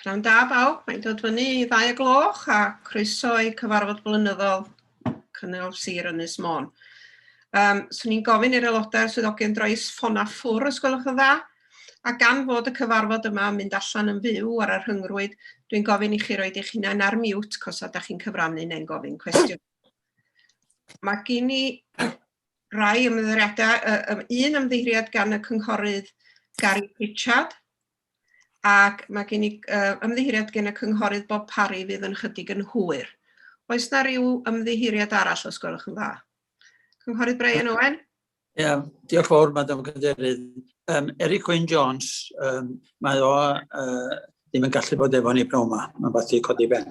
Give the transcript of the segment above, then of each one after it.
Pnawn da bawb, mae'n dod fyny i ddau o gloch a croeso i cyfarfod blynyddol Cynnal Sir Ynys Môn. Um, Swn i'n gofyn i'r aelodau swyddogion droes ffon a ffwr os gwelwch yn dda, a gan fod y cyfarfod yma yn mynd allan yn fyw ar y rhyngrwyd, dwi'n gofyn i chi roed eich hunain ar mute cos a da chi'n cyfrannu neu'n gofyn cwestiwn. Mae gen i rai ymddeiriadau, uh, un ymddeiriad gan y cynghorydd Gary Pritchard, ac mae gen i uh, ymddiheuriad gen y cynghorydd Bob Parry fydd yn chydig yn hwyr. Oes na ryw ymddiheuriad arall os gwelwch yn dda? Cynghorydd Brian Owen? Ie, yeah, diolch fawr, Madam Cadeirydd. Um, Eric Wyn Jones, um, mae o uh, ddim yn gallu bod efo ni pnawn yma. Mae'n fath i codi ben.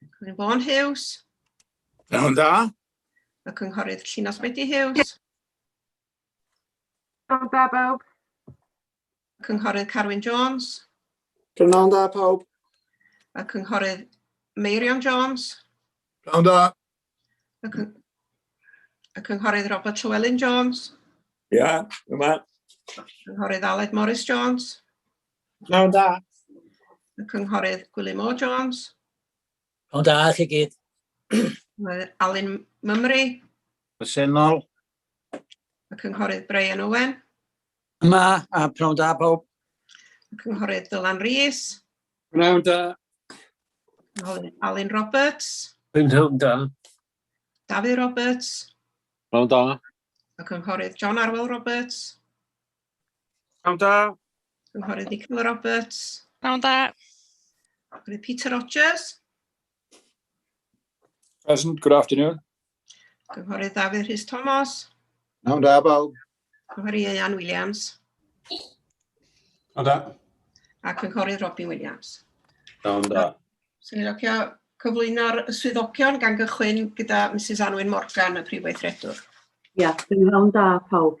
Cynghorydd Vaughan Hughes. Iawn da. Y Cynghorydd Llinos Medi Hughes. Iawn da bawb. Y Cynghorydd Carwyn Jones. Iawn da pawb. Y Cynghorydd Meirion Jones. Iawn da. Y, cyng y Cynghorydd Robert Llewellyn Jones. Ia, yma. Cynghorydd Aled Morris Jones. Pnawn da. Y cynghorydd Gwilym Moore Jones. Pnawn da i chi gyd. Alun Mymru. Presennol. Y cynghorydd Brian Owen. Yma, a pnawn da pawb. Y cynghorydd Dylan Rees. Pnawn da. Alun Roberts. Pnawn da. Dafydd Roberts. Pnawn da. Y cynghorydd John Arwel Roberts. Pnawn da. Cynghorydd Nicola Roberts. Pnawn da. Cynghorydd Peter Rogers. Present, good afternoon. Cynghorydd Dafydd Rhys Thomas. Pnawn da, bawb. Cynghorydd Ieuan Williams. Pnawn da. A Cynghorydd Robin Williams. Pnawn da. Swn i'n locio cyflwyno'r swyddogion gan gychwyn gyda Mrs Anwyn Morgan, y Prif Weithredwr. Ia, pnawn da, pawb.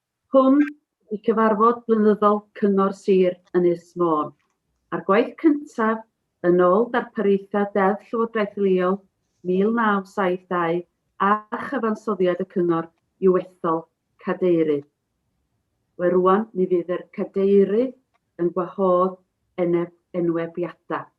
Hwn ydi cyfarfod blynyddol Cyngor Sir Ynys Môn, a'r gwaith cyntaf yn ôl darpariaethau Deddf Llywodraeth Leol 1972 a chyfansoddiad y Cyngor i'w ethol Cadeirydd. We rŵan mi fydd yr Cadeirydd yn gwahodd eneb enwebiadau.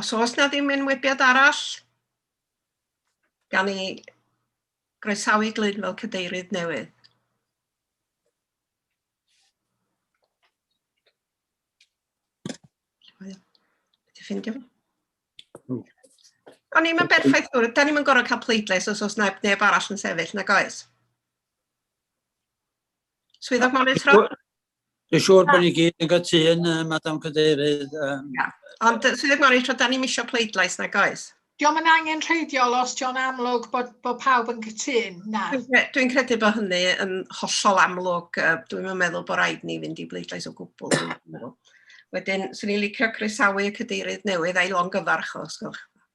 Os oes na ddim enwebiad arall, gan i groesawu Glyn fel cadeirydd newydd. Ti'n ffindio fo? Hmm. O'n ni'n mynd berffaith gwrdd, da ni'n mynd gorau cael pleidlais os oes neb, neb arall yn sefyll, na goes? Swyddog monitro? Dwi'n siŵr bod ni gyd yn gytun, uh, Madam Cadeirydd. Um... Yeah. Ond, uh, Swyddog Morris, da ni'n misio pleidlais na goes? Diolch yn angen rheidiol os diolch amlwg bod, bod pawb yn cytun, na. Dwi'n credu bod hynny yn hollol amlwg. Dwi'n meddwl bod rhaid ni fynd i bleidlais o gwbl. Wedyn, swn i'n licio croesawu y cadeirydd newydd a'i longyfarch o, os gwelwch.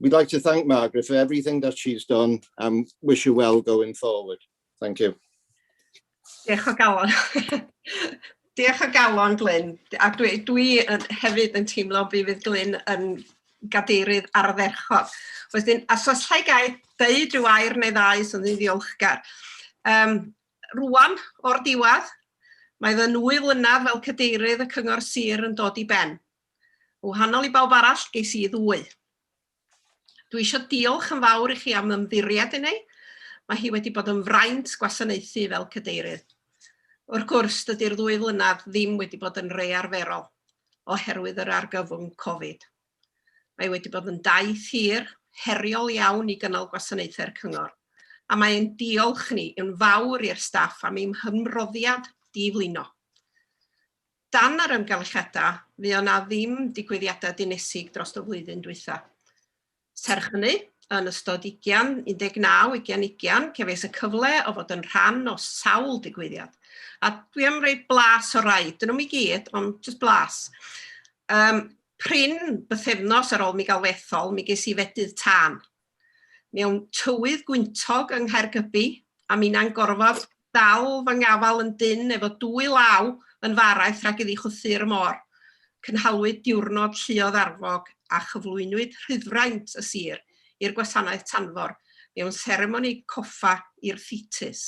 We'd like to thank Margaret for everything that she's done and wish her well going forward. Thank you. Diolch o galon. Diolch o galon, Glyn. A dwi, dwi yn, hefyd yn teimlo fi fydd Glyn yn gadeirydd ardderchog. Wedyn, a os lle gael deud rhyw air neu ddau sy'n ddi ddiolchgar. Um, rwan, o'r diwedd, mae fy nwy flynedd fel cadeirydd y Cyngor Sir yn dod i ben. Yn wahanol i bawb arall, ges i ddwy. Dwi eisiau diolch yn fawr i chi am ymddiried i ni. Mae hi wedi bod yn fraint gwasanaethu fel cadeirydd. Wrth gwrs, dydy'r ddwy flynedd ddim wedi bod yn rei arferol oherwydd yr argyfwng Covid. Mae wedi bod yn daith hir, heriol iawn i gynnal gwasanaethau'r cyngor, a mae ein diolch ni yn fawr i'r staff am eu hymroddiad di-flino. Dan yr amgylchiadau, fuo 'na ddim digwyddiadau dinesig drost y flwyddyn dwytha. Serch hynny, yn ystod ugian, 19, ugian, ugian, cefais y cyfle o fod yn rhan o sawl digwyddiad. A dwi am roi blas o rai, dyn nhw'm i gyd, ond jyst blas. Um, prin, bythefnos ar ôl mi gael fethol, mi ges i fedydd tân. mewn tywydd gwyntog yng Nghaergybi, a minnau'n gorfod dal fy ngafal yn dynn efo dwy law yn fy araith rhag iddi chwythu ar y môr. Cynhaliwyd diwrnod lluoedd arfog a chyflwynwyd rhyddfraint y sir i'r gwasanaeth tanfor mewn seremoni coffa i'r ffetus.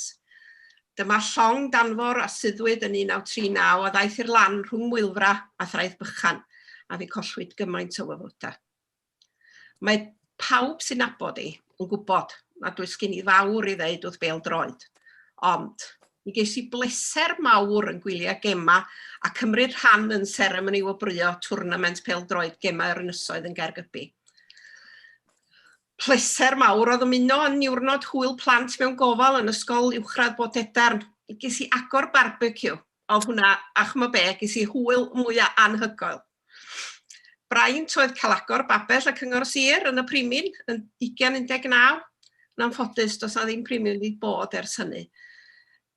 Dyma llong danfor a suddwyd yn 1939 a ddaeth i'r lan rhwng Mwylfra a Thraeth Bychan, a fe collwyd gymaint o wyfodau. Mae pawb sy'n nabod i yn gwybod nad oes gen i fawr i ddeud wrth bêl-droed, ond mi ges i bleser mawr yn gwylio gemau a cymryd rhan yn seremoni wobrwyo twrnament pêl-droed Gemau yr Ynysoedd yn Gaergybi. Pleser mawr oedd ymuno â niwrnod hwyl plant mewn gofal yn Ysgol Uwchradd Bodedarn. Ges i agor barbeciw Oedd hwnna, a ch'mo' be', ges i hwyl mwya' anhygoel. Braint oedd cael agor babell y Cyngor Sir yn y Primyn yn ugian un deg naw. Yn anffodus, does 'na ddim Primyn wedi bod ers hynny.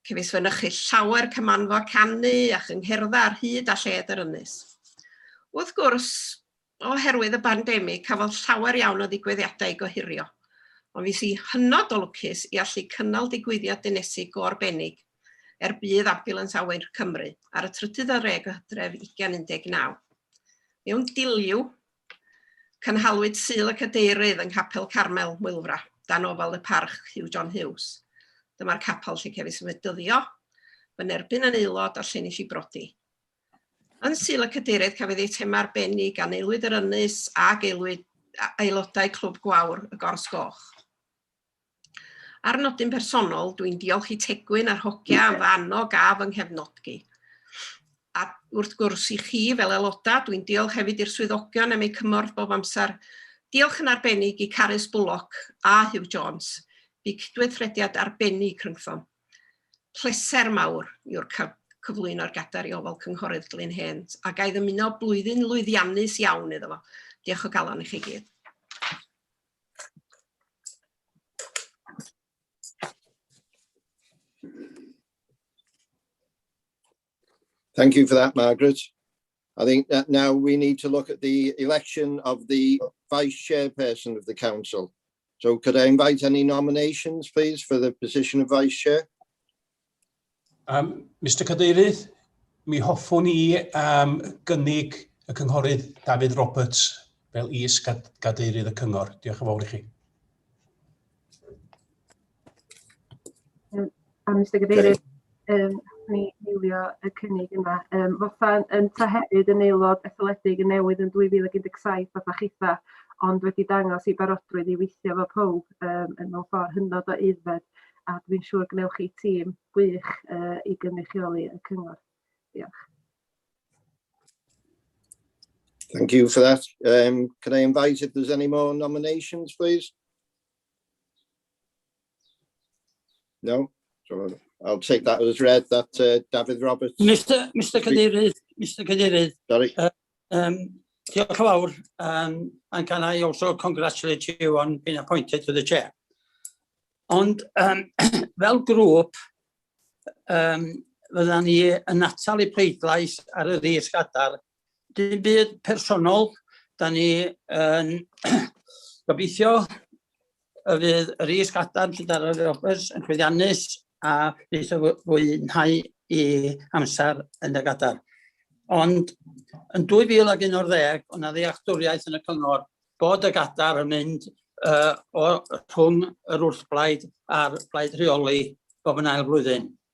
Cefais fynychu llawer cymanfa canu a chyngherddau ar hyd a lled yr ynys. Wrth gwrs, Oherwydd y bandemig, cafodd llawer iawn o ddigwyddiadau ei gohirio, ond fues i hynod o lwcus i allu cynnal digwyddiad dinesig go arbennig er budd Ambiwlans Awyr Cymru ar y trydydd ar ddeg o Hydref 2019. Mewn diliw, cynhalwyd Sul y Cadeirydd yng Nghapel Carmel, Mwylfra, dan ofal y Parch Hugh John Hughes. Dyma'r capel lle cefais fy dyddio, fy nerbyn yn aelod a'r lle nes i brodi. Yn Sul y Cadeirydd, cafodd eitemau arbennig gan aelwyd yr Ynys ac aelwyd, aelodau Clwb Gwawr y Gors Goch. Ar nodyn personol, dwi'n diolch i Tegwyn a'r hogia am fy annog a fy nghefnodgi. A wrth gwrs i chi fel aelodau, dwi'n diolch hefyd i'r swyddogion am eu cymorth bob amser. Diolch yn arbennig i Carys Bullock a Hugh Jones. Bu cydweithrediad arbennig rhyngthom. Pleser mawr yw'r cael cyflwyno'r Gadair i ofal Cynghorydd Glyn Hen a ga i ddymuno blwyddyn lwyddiannus iawn iddo fo. Diolch o galon i chi gyd. Thank you for that, Margaret. I think that now we need to look at the election of the vice chairperson of the council. So could I invite any nominations, please, for the position of vice chair? Um, Mr Cadeirydd, mi hoffwn i um, gynnig y cynghorydd David Roberts fel is-gadeirydd y cyngor. Diolch yn fawr i chi. A Mister Cadeirydd yym ni eilio y cynnig yma yym fatha yn ta hefyd yn aelod etholedig yn newydd yn 2017 fatha chitha ond wedi dangos i barodrwydd i weithio efo powb yym yn mewn ffordd hynod o aeddfed a dwi'n siŵr gwnewch chi tîm gwych yy i gynrychioli y cyngor. Diolch. Thank you for that. Um, can I invite if there's any more nominations, please? No? So I'll take that as read that uh, Dafydd Roberts... Mr Mr Cadeirydd, Mr Cadeirydd... Sorry. Uh, um, diolch yn fawr, um, and can I also congratulate you on being appointed to the chair? Ond um, fel grŵp, um, fydda ni yn atal y pleidlais ar y ddies gadar Dim byd personol, da ni yn gobeithio y fydd yr is gadarn sydd ar yr ofers yn chwyddiannus a bydd y fwynhau i amser yn y gadarn. Ond yn 2011, o'n na ddealltwriaeth yn y cyngor bod y gadar yn mynd uh, o rhwng yr wrthblaid a'r blaid rheoli bob yn ail flwyddyn.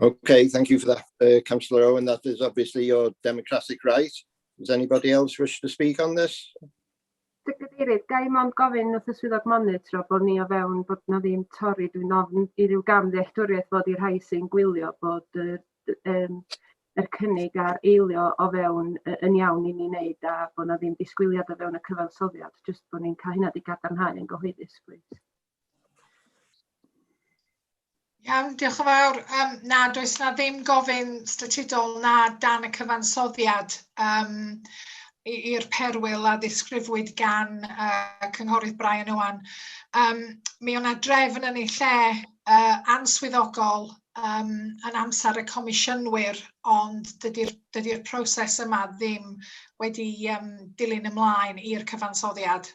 Okay, thank you for that, uh, Councillor Owen. That is obviously your democratic right. Does anybody else wish to speak on this? Cadeirydd, ga i mond gofyn wrth y swyddog monitro bod ni o fewn bod na ddim torri, dwi'n ofn i ryw gam ddealltwriaeth bod i'r rhai sy'n gwylio bod yr, um, yr cynnig a'r eilio o fewn yn iawn i ni wneud a bod na ddim disgwyliad o fewn y cyfansoddiad, jyst bod ni'n cael hynna di gadarnhau yn gyhoeddus, please. Iawn, diolch yn fawr. Um, na, does na ddim gofyn statudol na dan y cyfansoddiad um, i'r perwyl a ddisgrifwyd gan uh, cynghorydd Brian Owan. Um, mi o'na drefn yn ei lle uh, answyddogol um, yn amser y comisiynwyr, ond dydy'r dydy proses yma ddim wedi um, dilyn ymlaen i'r cyfansoddiad.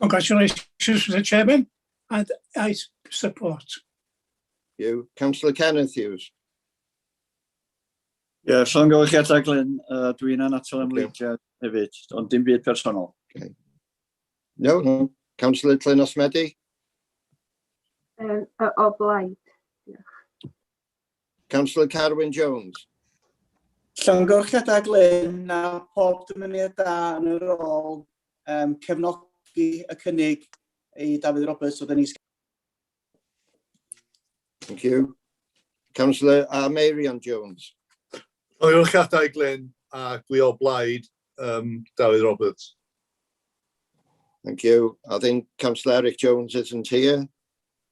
Congratulations, Mr Chairman, and I support. You, Councillor Kenneth Hughes. Ie, yeah, llongyfarchiadau Glyn, uh, dwi'n anatal ymwneiddiad okay. hefyd, ond dim byd personol. Okay. No, no. Councillor Glyn Osmedi? Um, o blaid. Councillor Carwyn Jones. Llongyfarchiadau Glyn a pob dymuniad da yn y rôl, um, cefnogi y cynnig i Dafydd Roberts oedd yn is Thank you. Councillor uh, Marion Jones. Llongyfarchiadau Glyn a gwi o blaid um, Dafydd Roberts. Thank you. I think Councillor Eric Jones isn't here.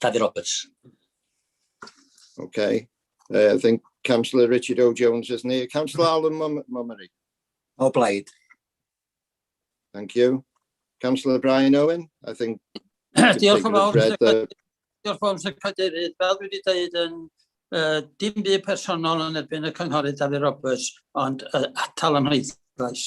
Dafydd Roberts. Okay. Uh, I think Councillor Richard O Jones is near. Councillor Alan Mummery. O blaid. Thank you. Councillor Brian Owen, I think... Diolch yn fawr, Diolch fawr, Sir Cadeirydd. Fel dwi wedi dweud yn uh, dim byd personol yn erbyn y cynghorydd Dafydd Roberts, ond uh, atal am heiddlais.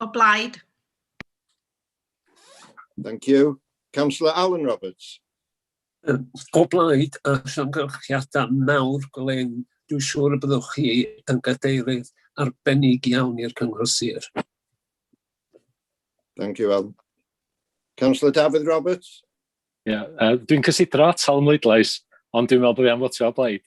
O blaid. Thank you. Councillor Alan Roberts. O blaid a llongyfarchiadau mawr Glyn, dwi'n siŵr y byddwch chi yn gadeirydd arbennig iawn i'r Cyngor Sir. Thank you, Alan. Councillor Dafydd Roberts. Ie, yeah, uh, dwi'n cysidro atal ymwydlais, ond dwi'n meddwl bod fi am fotio o blaid.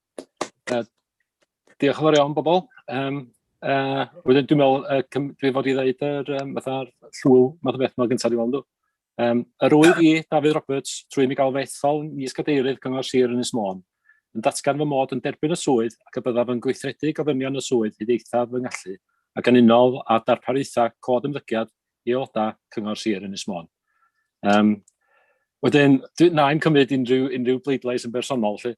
Uh, diolch yn fawr iawn, bobl. Um, uh, wedyn, dwi'n meddwl, uh, dwi fod i ddeud yr, um, fatha'r llwyl, math o beth yma gyntaf dwi'n meddwl. Um, yr wyf i, David Roberts, trwy mi gael fethol mis cadeirydd Cyngor Sir yn Ysmôn, yn datgan fy mod yn derbyn y swydd ac y byddaf yn gweithredu gofynion y swydd hyd eithaf fy ngallu ac yn unol â darpariaethau cod ymddygiad i aelodau Cyngor Sir yn Ysmôn. Um, Wedyn, na i'n cymryd unrhyw, unrhyw bleidlais yn bersonol, lle,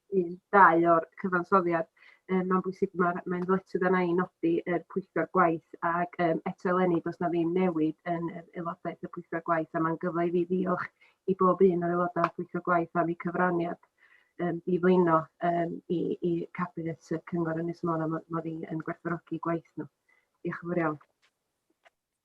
un, dau o'r cyfansoddiad. Yy ma'n bwysig ma'r mae'n ddyletswydd arna i nodi yr pwyllgor gwaith ag yym eto eleni do's 'na ddim newid yn yr aelodaeth y pwyllgor gwaith a ma'n gyfle i fi ddiolch i bob un o'r aeloda' o'r pwyllgor gwaith am 'u cyfraniad yym i flino yym i i cabinet y cyngor Ynys Môn a ma' ma' fi yn gwerthfawrogi gwaith nhw. Diolch yn fowr iawn.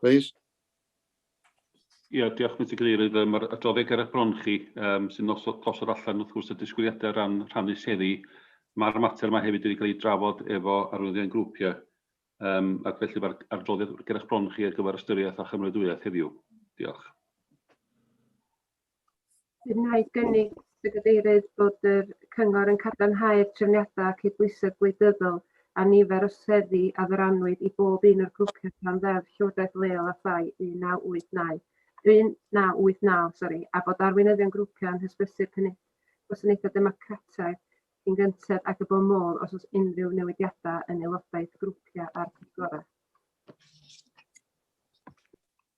Please. Ia, diolch Mister Cadeirydd. Yym ma'r adroddiad ger eich bron chi yym sy'n noso- gosod allan wrth gwrs y disgwyliadau o ran rhannu seddi. Ma'r mater yma hefyd wedi cael ei drafod efo arwyddion grwpiau yym ac felly ma'r adroddiad ger eich bron chi ar gyfer ystyriaeth a chymroadwyaeth heddiw. Diolch. Wnaeth gynnig y Gadeirydd bod y Cyngor yn cadarnhau'r trefniadau cydbwysedd gwleidyddol a nifer o seddi a ddyrannwyd i bob un o'r grwpiau dan Ddeddf Llywodraeth Leol a Thai 1989, 1989 sori, a bod arweinyddion grwpiau yn hysbysu'r cynnig gwasanaethau democrataidd cyn gynted ac y bo modd os oes unrhyw newidiadau yn aelodaeth grwpiau a'r pwyllgorau.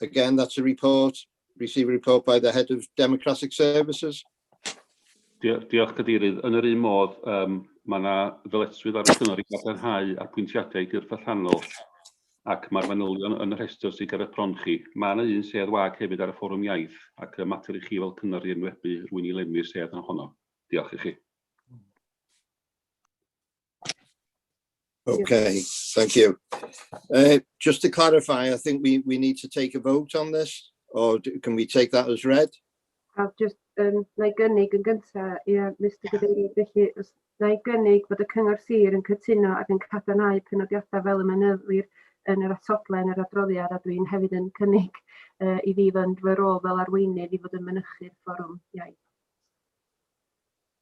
Again, that's a report, receive a report by the Head of Democratic Services. Diolch, Cadeirydd. Yn yr un modd, um, mae yna ddyletswydd ar y cyngor i gadarnhau apwyntiadau i'r gyrff allanol ac mae'r manylion yn y rhestr sydd ger y pron chi. Mae yna un sedd wag hefyd ar y fforwm iaith ac y mater i chi fel cyngor i enwebu rwy'n i lenwi'r sedd yn honno. Diolch i chi. Okay, thank you. Uh, just to clarify, I think we, we need to take a vote on this, or can we take that as read? I'll just, um, na i gynnig yn gyntaf, yeah, Mr Gadeirydd, felly, os na i gynnig bod y Cyngor Sir yn cytuno ac yn cadarnhau penodiadau fel y mynyddir yn yr atodlen yr adroddiad a dwi'n hefyd yn cynnig uh, i fi fynd fy rôl fel arweinydd i fod yn mynychu'r fforwm iaith.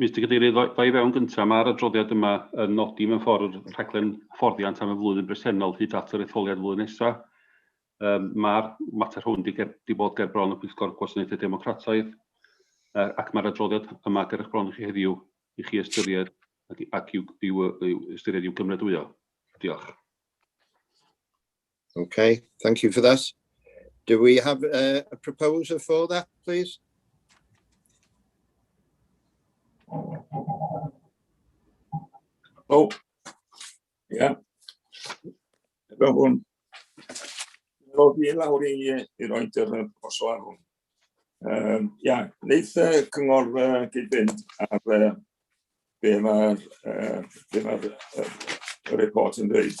Mister Cadeirydd, ddo i fewn gyntaf, mae'r adroddiad yma yn nodi mewn ffordd y rhaglen hyfforddiant am y flwyddyn bresennol hyd at yr etholiad flwyddyn nesaf. Um, mae'r mater hwn wedi ger, di bod ger bron y Pwyllgor Gwasanaethau Democrataidd uh, ac mae'r adroddiad yma ger eich bron i chi heddiw i chi ystyried ac, ac i'w, i'w, i'w ystyried i'w gymrydwyo. Diolch. Okay, thank you for that. Do we have a, a proposer for that, please? Oh, yeah. Efo hwn. Efo fi lawr i, i roed yr proposal ar hwn. Um, ia, wneud y cyngor uh, gyd-fynd ar uh, be mae'r uh, be ma uh, report yn dweud.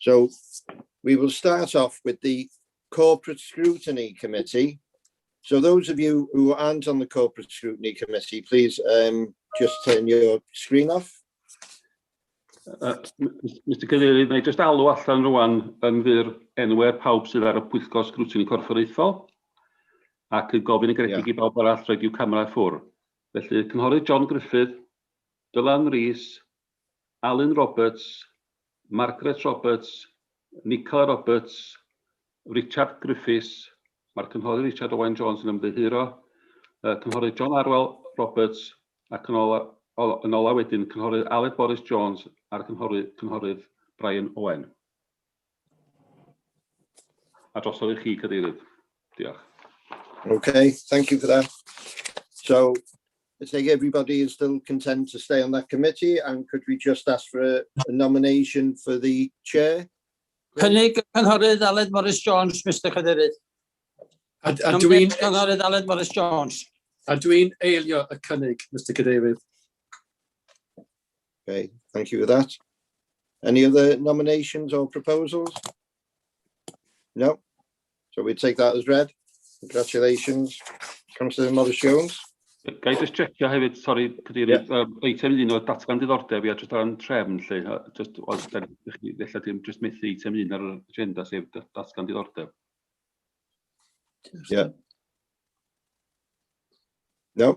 So we will start off with the Corporate Scrutiny Committee. So those of you who aren't on the Corporate Scrutiny Committee, please um, just turn your screen off. Uh, Mr Cadeirydd, na i just alw allan rwan yn fyr enwer pawb sydd ar y pwyllgor sgrwtyn corfforaethol ac yn gofyn y gredig yeah. i bawb arall roed i'w camerau ffwr. Felly, cynghorydd John Griffith, Dylan Rees, Alun Roberts, Margaret Roberts, Nicola Roberts, Richard Griffiths, mae'r Cynghorydd Richard Owen Jones yn ymddiheuro, y Cynghorydd John Arwel Roberts ac yn ola, ola, yn ola wedyn Cynghorydd Aled Boris Jones a'r Cynghorydd, Cynghorydd Brian Owen. A drosodd i chi, Cadeirydd. Diolch. Okay, thank you for that. So, I think everybody is still content to stay on that committee, and could we just ask for a, a nomination for the chair? Cynnig y cynghorydd Aled Morris Jones, Mr Cadeirydd. A, a dwi'n... Cynghorydd Aled Morris Jones. A dwi'n eilio y cynnig, Mr Cadeirydd. Okay, thank you for that. Any other nominations or proposals? No? So we take that as read. Congratulations, Councillor Morris Jones. Ga i just checio hefyd, sori, cadeirydd, yeah. um, eitem un o datgan diddordeb, ia, just ar yn trefn, lle, just, os da chi, ddella dim just methu eitem un ar yr agenda, sef datgan diddordeb. Yeah. No?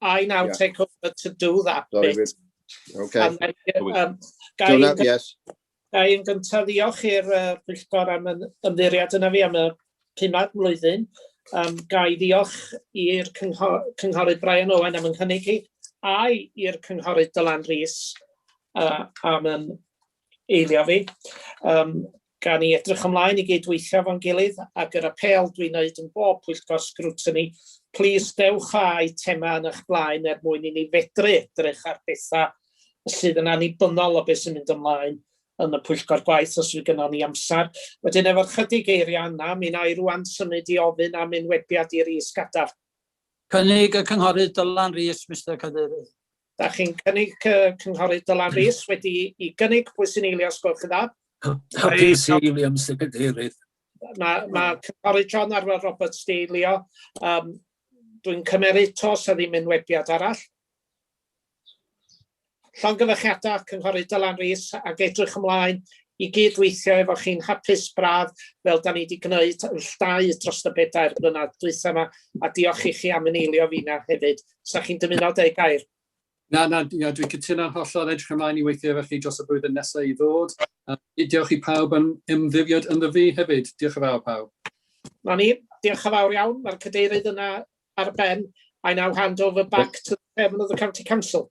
I now yeah. take over to do that Sorry, bit. Okay. And then, um, Gai yn yes. gyntaf ddiolch i'r uh, pwyllgor am yn ymddiriad yna fi am y pumad mlwyddyn. Um, gai ddiolch i'r cynghor, cynghorydd Brian Owen am yn hynny chi, a'i i'r cynghorydd Dylan Rhys uh, am yn eilio fi. Um, Gawn ni edrych ymlaen i gyd-weithio efo'n gilydd, ac yr apêl dwi'n wneud yn bob pwyllgor sgrwtini, plis dewch â eitemau yn eich blaen er mwyn i ni fedru edrych ar bethau sydd yn annibynnol o beth sy'n mynd ymlaen yn y pwyllgor gwaith os fydd gynnon ni amser. Wedyn efo'r ychydig eiriau yna, mi wna i rŵan symud i ofyn am enwebiad i Rhys Gadarn. Cynnig y Cynghorydd Dylan Rees, Mister Cadeirydd. Da chi'n cynnig uh, cynghorydd Dylan Rees wedi i gynnig pwy sy'n eilio os gwelwch yn dda. Hapus i eilio, Mr Cadeirydd. Mae ma cynghorydd John Arwel Roberts di eilio. Um, Dwi'n cymeryd tos a ddim yn webiad arall. Llongyfychiadau cynghorydd Dylan Rees ac edrych ymlaen i gyd-weithio efo chi'n hapus braf fel da ni wedi gwneud yn llai dros y bedair blynedd dwytha yma a diolch i chi am yn eilio fi na hefyd. Sa chi'n dymuno dweud gair? Na, na, na dwi'n cytuno'n hollol edrych ymlaen i weithio efo chi dros y blwyddyn nesaf i ddod. A diolch i pawb am ymddifiad ynddo fi hefyd. Diolch yn fawr pawb. Na ni, diolch yn fawr iawn. Mae'r cadeirydd yna ar ben. I now hand over back to the chairman of the county council.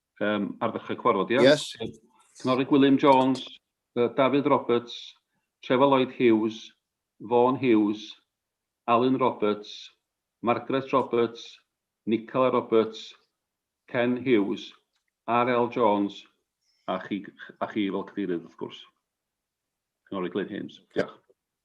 um, ar ddechrau cwarfod, ia? Yes. Cynghorydd Gwilym Jones, uh, Dafydd Roberts, Trevor Lloyd Hughes, Vaughan Hughes, Alan Roberts, Margaret Roberts, Nicola Roberts, Ken Hughes, R.L. Jones, a chi, a chi fel cadeirydd, wrth gwrs. Cynghorydd Glyn Hames. Diolch.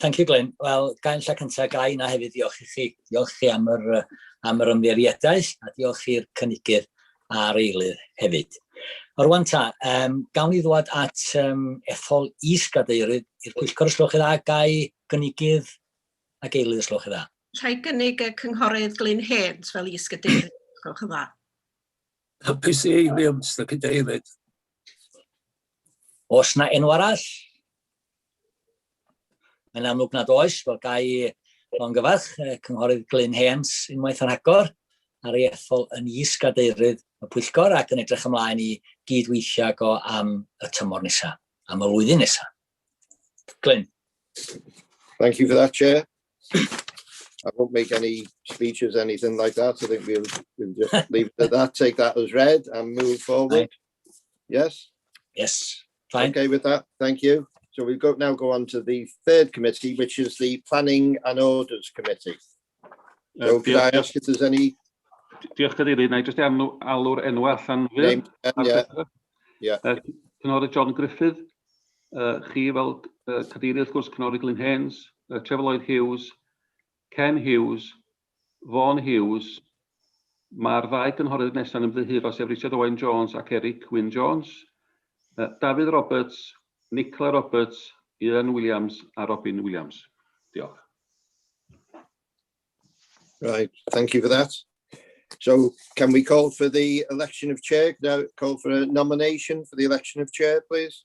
Thank you, Glyn. Wel, gael lle cyntaf, gael yna hefyd ddiolch i chi. Diolch chi am yr, am yr ymddiriedaeth a diolch i'r cynigydd a'r eilydd hefyd. Orwan ta, um, gawn i ddwad at um, ethol is-gadeirydd i'r pwyllgor ysloch i dda, gai gynigydd ac eilydd ysloch i dda. Rhai gynnig y cynghorydd Glyn Hens fel is-gadeirydd ysloch i dda. Hapus i eiliad, Mr Cadeirydd. Os na enw arall, Mae'n amlwg nad oes, fel gai o'n gyfarch, Cynghorydd Glyn Heans unwaith yn rhagor ar ei ethol yn is-gadeirydd y pwyllgor ac yn edrych ymlaen i gyd-weithio ag o am y tymor nesaf, am y flwyddyn nesaf. Glyn. Thank you for that, Chair. I won't make any speeches, anything like that. I think we'll, we'll just leave it at that, take that as read and move forward. Yes? Yes. Fine. Okay with that, thank you. So we go now go on to the third committee, which is the Planning and Orders Committee. So could I ask if there's any... Diolch Cadeirydd, na i jyst enw, alw'r enw allan fyr. Yeah. Uh, Cynghorydd John Griffith, uh, chi fel uh, Cadeirydd wrth gwrs Cynghorydd Glyn Haynes, uh, Trevor Lloyd Hughes, Ken Hughes, Vaughan Hughes. Mae'r ddau gynghorydd nesaf yn ymddiheuro sef Richard Owen Jones ac Eric Wyn Jones. Dafydd Roberts, Nicola Roberts, Ieuan Williams a Robin Williams. Diolch. Right, thank you for that. So can we call for the election of chair? Can I call for a nomination for the election of chair, please?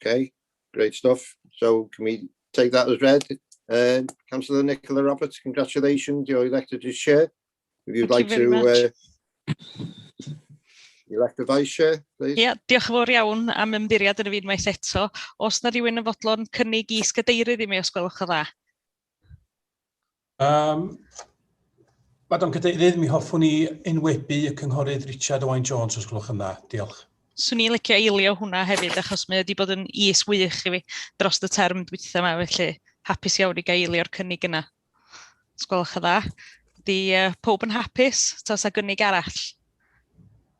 Okay, great stuff. So can we take that as read? Uh, Councillor Nicola Roberts, congratulations, you're elected as chair. If you'd Thank like you to uh, elect a vice chair, please. yeah, diolch yn fawr iawn am ymddiried yn y fi unwaith eto. Os na rhywun yn fodlon cynnig i sgadeirydd i mi os gwelwch yn dda. Um, Madam Cadeirydd, mi hoffwn i enwebu y cynghorydd Richard Owain Jones, os gwelwch yn dda. Diolch. Swn i'n licio eilio hwnna hefyd, achos mae wedi bod yn is wych i fi dros y term dwytha yma, felly hapus iawn i gael eilio'r cynnig yna. Os gwelwch yn dda. Di uh, pob yn hapus, tos a gynnig arall.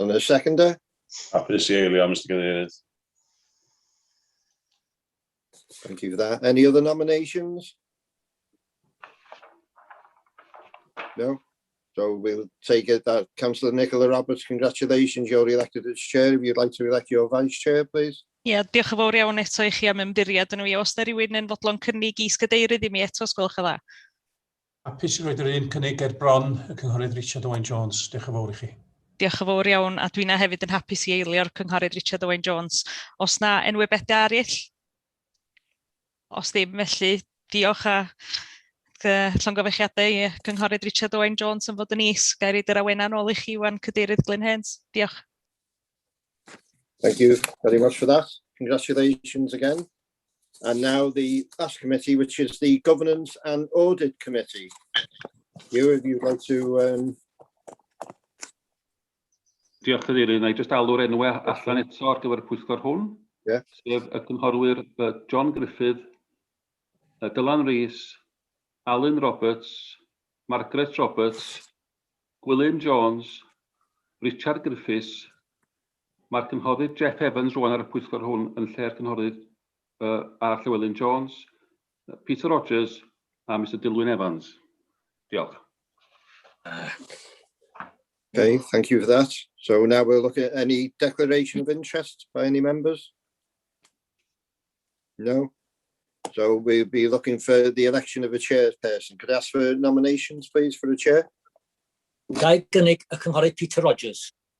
Yn y seconder? Hapus i eilio, Mr Cadeirydd. Thank you for that. Any other nominations? No? So we'll take it that Councillor Nicola Roberts, congratulations, you're elected as chair. If you'd like to elect your vice chair, please. Ie, yeah, diolch yn fawr iawn eto i chi am ymddiried yn y fi. Os da rhywun yn fodlon cynnig i sgadeirydd i mi eto, os gwelwch yn dda. Hapus i roid yr un cynnig ger bron y Cynghorydd Richard Owen Jones. Diolch yn fawr i chi. Diolch yn fawr iawn, a dwi'n hefyd yn hapus i eilio'r Cynghorydd Richard Owen Jones. Os na enwybedau arill? Os ddim, felly diolch a llongyfechiadau i Cynghorydd Richard Owen Jones yn fod yn is. Gair i dyr awena nôl i chi Iwan Cadeirydd Glyn Hens. Diolch. Thank you very much for that. Congratulations again. And now the last committee, which is the Governance and Audit Committee. You, if you'd like to... Um... Diolch, Cadeirydd. Na i just alw'r enwau allan eto ar gyfer y pwyllgor hwn. Yeah. Sef y cynghorwyr John Griffith, Dylan Rees, Alan Roberts, Margaret Roberts, Gwilym Jones, Richard Griffiths, Mae'r Cynghorydd Jeff Evans rŵan ar y pwyllgor hwn yn lle'r Cynghorydd A. Llewelyn Jones, Peter Rogers a Mister Dilwyn Evans. Diolch. Okay, thank you for that. So now we'll look at any declaration of interest by any members. No? So we'll be looking for the election of a chairperson. Could I ask for nominations, please, for a chair? Gael gynnig y Cynghorydd Peter Rogers.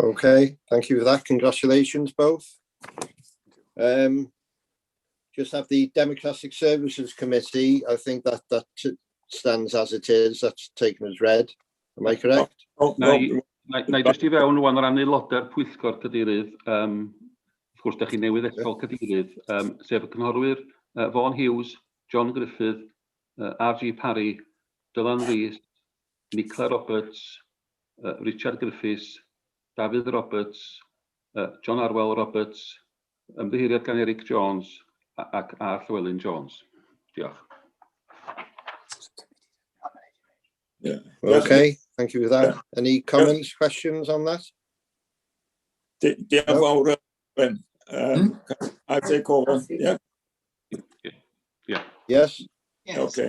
Okay, thank you for that. Congratulations both. Um, just have the Democratic Services Committee. I think that that stands as it is. That's taken as read. Am I correct? Oh, no. no. Na, na i just i fewn rwan o ran aelodau'r pwyllgor cadeirydd, um, wrth gwrs, da chi newydd eto cadeirydd, um, sef y cynghorwyr uh, Vaughan Hughes, John Griffith, uh, R.G. Parry, Dylan Rees, Nicola Roberts, Richard Griffiths, Dafydd Roberts, John Arwel Roberts, ymddiheuriad gan Eric Jones ac A. Llewelyn Jones. Diolch. Yeah. Okay, thank you for that. Yeah. Any comments, yeah. questions on that? Diolch yn fawr, Ben. Um, hmm? I take over, yeah? Yeah. Yes. yes. Okay.